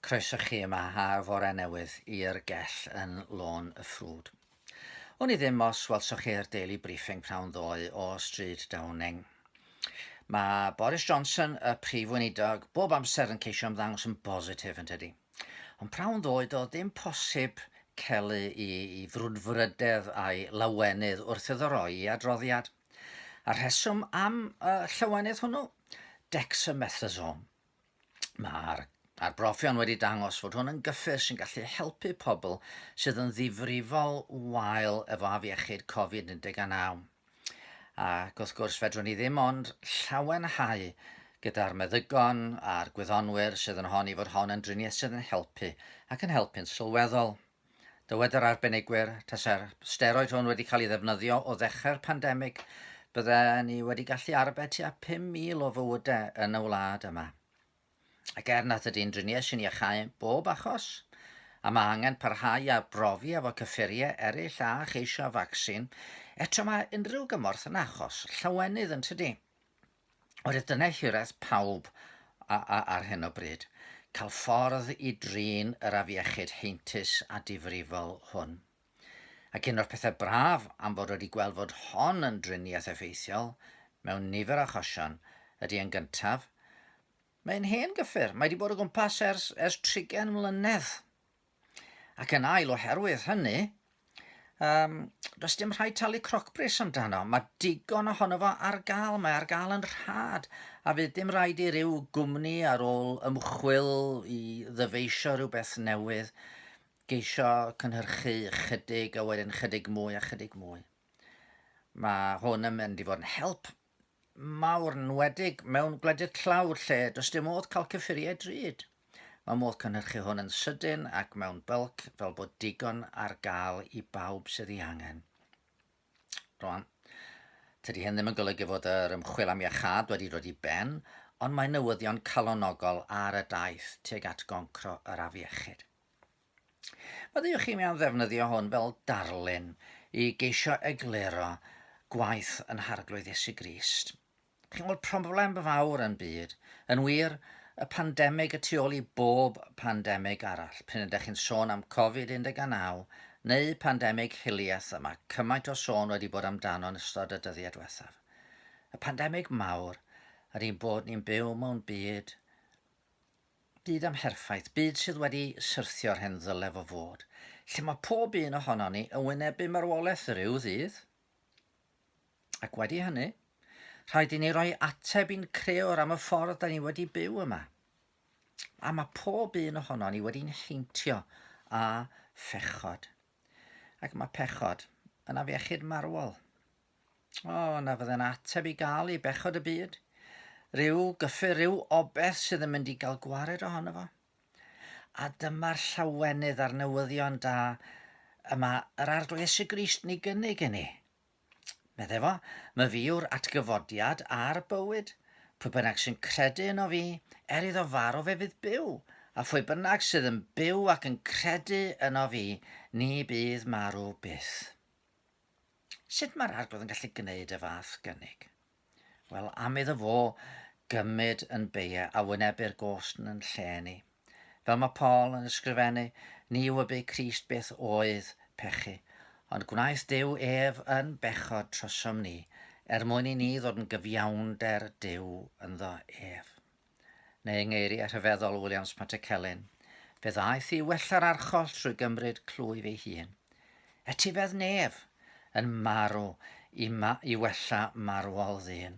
Croeso chi yma ar fore newydd i'r gell yn Lôn y Ffrwd. Wn i ddim os welsoch chi'r Daily Briefing prawn ddoe o Stryd Downing. Mae Boris Johnson, y prif weinidog, bob amser yn ceisio ymddangos yn bositif yn tydi. Ond prawn ddoe doedd ddim posib celu i, i frwdfrydedd a'i lawenydd wrth iddo roi i adroddiad. A'r rheswm am y llawenydd hwnnw? dexamethasone. Mae'r arbrofion wedi dangos fod hwn yn gyffur sy'n gallu helpu pobl sydd yn ddifrifol wael efo afiechyd Covid-19. Ac wrth gwrs, fedrwn ni ddim ond llawenhau gyda'r meddygon a'r gwyddonwyr sydd yn honni fod hon yn driniaeth sydd yn helpu ac yn helpu'n sylweddol. Dywed yr arbenigwyr, tase'r steroid hwn wedi cael ei ddefnyddio o ddechrau'r pandemig, bydde ni wedi gallu arbed tua 5,000 o fywydau yn y wlad yma. Ac er nad ydy'n driniaeth sy'n iachau bob achos, a mae angen parhau i arbrofi efo cyffuriau eraill a cheisio vaccine, eto mae unrhyw gymorth yn achos llawenydd yn tydi? Oherwydd dyna hiraeth pawb ar hyn o bryd, cael ffordd i drin yr afiechyd heintus a difrifol hwn. Ac un o'r pethau braf am fod wedi gweld fod hon yn driniaeth effeithiol mewn nifer o achosion ydy yn gyntaf, mae'n hen gyffur, mae wedi bod o gwmpas ers, ers trigen mlynedd. Ac yn ail oherwydd hynny, um, does dim rhaid talu crocbris amdano. Mae digon ohono fo ar gael, mae ar gael yn rhad, a fydd dim rhaid i ryw gwmni ar ôl ymchwil i ddyfeisio rhywbeth newydd geisio cynhyrchu chydig a wedyn chydig mwy a chydig mwy. Mae hwn yn mynd i fod yn help mawr, nwedig mewn gwledydd tlawd lle does dim modd cael cyffuriau drud. Mae modd cynhyrchu hwn yn sydyn ac mewn bylc fel bod digon ar gael i bawb sydd ei angen. Rwan, tydi hyn ddim yn golygu fod yr ymchwil am iachad wedi dod i ben, ond mae newyddion calonogol ar y daith tuag at goncro yr afiechyd. Ydych chi'n mewn ddefnyddio hwn fel darlun i geisio egluro gwaith yn harglwydd Iesu Grist? Chi'n gweld problem fawr yn byd, yn wir, y pandemig y tu ôl i bob pandemig arall, pryn ydych chi'n sôn am Covid-19 neu pandemig hiliaeth y mae cymaint o sôn wedi bod amdano yn ystod y dyddiau diwethaf. Y pandemig mawr ydy'n bod ni'n byw mewn byd Byd amherffaith, byd sydd wedi syrthio o'r hen ddylef o fod, lle mae pob un ohonon ni yn wynebu marwolaeth ryw ddydd. Ac wedi hynny, rhaid i ni roi ateb i'n creor am y ffordd da ni wedi byw yma. A mae pob un ohonon ni wedi'n heintio a phechod. Ac mae pechod yn afiechyd marwol. O, na fydde'n ateb i gael i bechod y byd. Rhyw gyffur, rhyw obeth sydd yn mynd i gael gwared ohono fo. A dyma'r llawenydd a'r newyddion da y mae yr arglwydd Iesu Grist ni gynnig i ni. Medde fo, mae fi yw'r atgyfodiad a'r bywyd. Pwy bynnag sy'n credu yno fi, er iddo farw fe fydd byw, a phwy bynnag sydd yn byw ac yn credu yno fi, ni bydd marw byth. Sut mae'r arglwydd yn gallu gwneud y fath gynnig? Wel, am iddo fo gymryd yn beia a wynebu'r gost yn lle ni. Fel mae Paul yn ysgrifennu, ni wybu Crist beth oedd pechu, ond gwnaeth Dyw ef yn bechod trosom ni, er mwyn i ni ddod yn gyfiawnder Dyw ynddo ef. neu yng ngeiriau rhyfeddol Williams Matekelin, fe ddaeth i wella'r archoll trwy gymryd clwyf ei hun. Etifedd nef yn marw i, ma i wella marwol ddyn.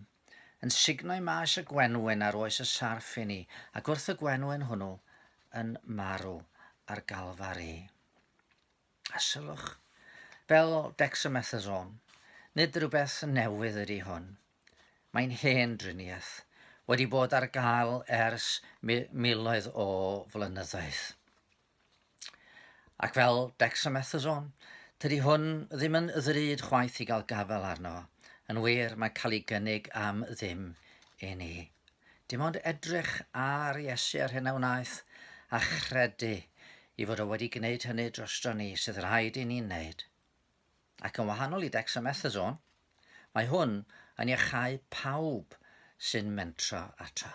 Yn sugno i maes y gwenwyn ar oes y sarff i ni, ac wrth y gwenwyn hwnnw yn marw ar Galfari. A sylwch, fel dexamethasone, nid rhywbeth newydd ydy hwn. Mae'n hen driniaeth, wedi bod ar gael ers miloedd o flynyddoedd. Ac fel dexamethasone, tydi hwn ddim yn ddrud chwaith i gael gafael arno. Yn wir, mae'n cael ei gynnig am ddim i ni. Dim ond edrych ar Iesu a'r hyn a wnaeth, a chredu i fod o wedi gwneud hynny drostro ni sydd rhaid i ni'n wneud. Ac yn wahanol i dexamethasone, mae hwn yn iachau pawb sy'n mentro ato.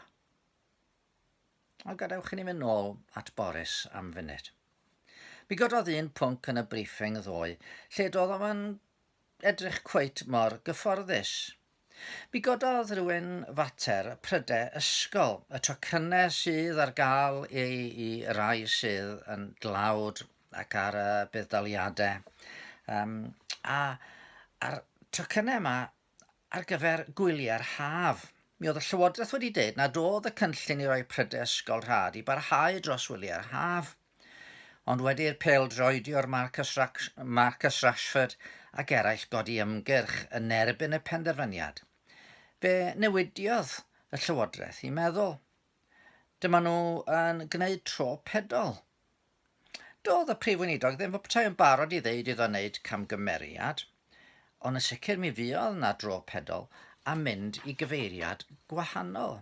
Ond gadewch i ni fynd nôl at Boris am funud. Mi gododd un pwnc yn y briefing ddoe, lle doedd o'm yn edrych cweit mor gyfforddus. Mi gododd rywun fater pryde ysgol, y tocynne sydd ar gael ei i rai sydd yn dlawd ac ar y budd-daliade. Yym, a a'r tocynne yma ar gyfer gwyliau'r haf. Mi oedd y Llywodraeth wedi dweud nad oedd y cynllun i roi pryde ysgol rhad i barhau dros wyliau'r haf. Ond wedi i'r pêl-droediwr Marcus, Rash Marcus Rashford ac eraill godi ymgyrch yn erbyn y penderfyniad, fe newidiodd y Llywodraeth i meddwl. Dyma nhw yn gwneud tro pedol. Doedd y Prif Weinidog ddim fy petai yn barod i ddeud iddo wneud camgymeriad. Ond yn sicr mi fuodd 'na dro pedol a mynd i gyfeiriad gwahanol.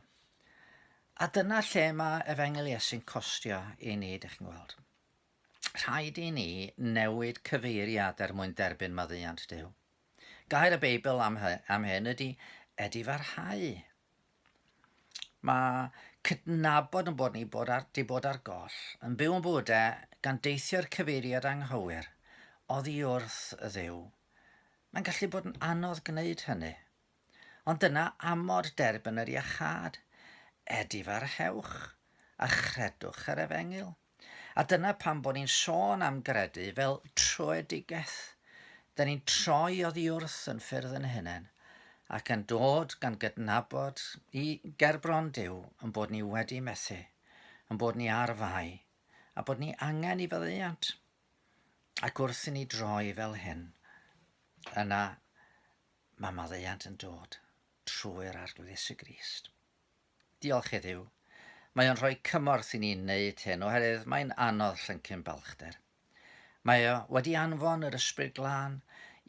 A dyna lle mae efengyl Iesu'n costio i ni, dych chi'n gweld. Rhaid i ni newid cyfeiriad er mwyn derbyn maddeuant Dyw. Gair y Beibl am, hy, am hyn ydy edifarhau. Mae cydnabod yn bod ni bod ar, di bod ar goll, yn byw yn bywydau gan deithio'r cyfeiriad anghywir, oddi wrth y dduw. Mae'n gallu bod yn anodd gwneud hynny. Ond dyna amod derbyn yr iachâd. Edifarhewch a chredwch yr efengyl. A dyna pam bod ni'n sôn am gredu fel troedigeth. Da ni'n troi oddi wrth yn ffyrdd yn hunain ac yn dod gan gydnabod i gerbron Duw yn bod ni wedi methu, yn bod ni ar fai, a bod ni angen i faddeuant. Ac wrth i ni droi fel hyn, yna mae maddeuant yn dod trwy'r Arglwyddes y Grist. Diolch heddiw. Mae o'n rhoi cymorth i ni wneud hyn oherwydd mae'n anodd llyncu'n balchder. Mae o wedi anfon yr Ysbryd Glân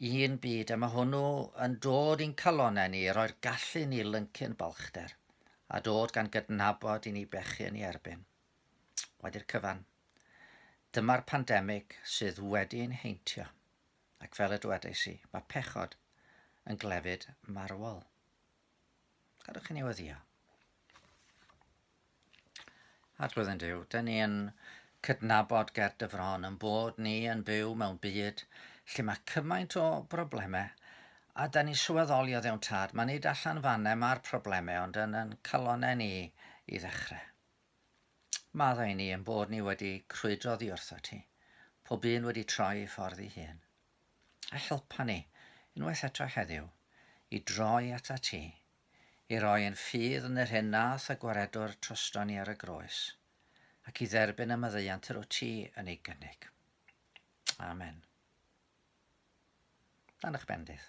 i un byd a mae hwnnw yn dod i'n calonnau ni i roi'r gallu ni lyncu'n balchder a dod gan gydnabod i ni bechu yn ei erbyn. Wedi'r cyfan, dyma'r pandemig sydd wedi ein heintio, ac fel y dywedais i, mae pechod yn glefyd marwol. Gadwch chi newyddio. Adrodd yn diw, da ni yn cydnabod ger dyfron yn bod ni yn byw mewn byd lle mae cymaint o broblemau a da ni sylweddoli o ddewn tad, mae nid allan fannau mae'r problemau ond yn yn calonau ni i ddechrau. Maddau ni yn bod ni wedi crwydro ddi wrtho ti, pob un wedi troi ei ffordd i hun. a helpa ni, unwaith eto heddiw, i droi atat ti, i roi ein ffydd yn yr hyn nath y Gwaredwr troston ni ar y groes, ac i dderbyn y maddeuant yr wyt ti yn ei gynnig. Amen. Dan eich bendith.